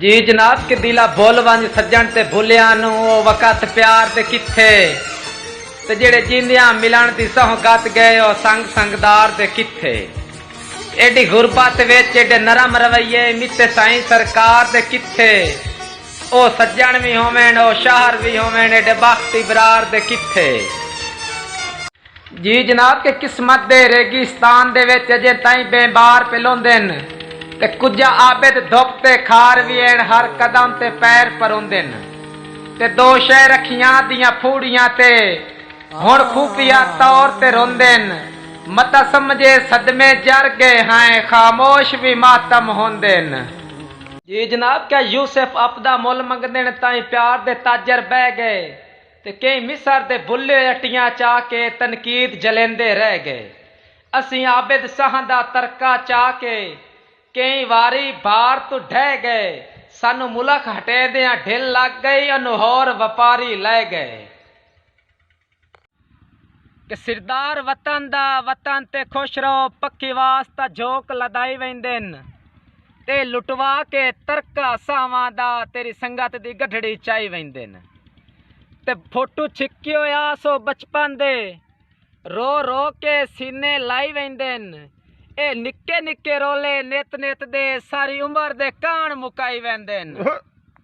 جی جناب قبیلہ بھل ونج سجݨ تے بھلیاں نو او وقت پیار تے کتھے تے جیڑھے جیندیاں ملݨ دی سہوں گت گئے او سنگ سنگدار تے کتھے ایڈی غربت وچ ایڈے نرم رویے متے سائیں سرکار تے کتھے او سجݨ وی ہوون او شاہر وی ہوون ایڈے بخت ابرار تے کتھے۔ جی جناب کہ قسمت دے ریگستان دے وچ اجیں تئیں بینبار پلوندن تے کجھا عابد دھپ تے خار وی ہن ہر قدم تے پیر پروندن تے دو شے رکھیاں دیاں پھوڑیاں تے ہن خفیہ طور تے روندن متاں سمجھے صدمے جر گئے ہئیں خاموش وی ماتم ہوندن۔ جی جناب کہ یوسف اپدا مل منگدن تئیں پیار دے تاجر بہہ گئے۔ تے کئی مصر دے بھلے ہوئے اٹیاں چا کے تنقید جھلیندے رہ گئے۔ اسیں عابد سہاں دا ترکہ چا کے کئی واری بھار توں ڈھہ گئے۔ سانوں ملخ ہٹیندیاں ڈھل لگ گئی انوں ہور وپاری لئے گئے۔ کہ سردار وطن دا وطن تے خوش رہو پکھی واسطہ جھوک لدائی ویندین۔ تے لٹوا کے ترکا ساواں دا تیری سنگت دی گڈھڑی چائی ویندن تے فوٹو چھکیو آس او بچپن دے رو رو کے سینے لائی ویندن اے نکے نکے رولے نیت نیت دے ساری عمر دے کان مکائی ویندن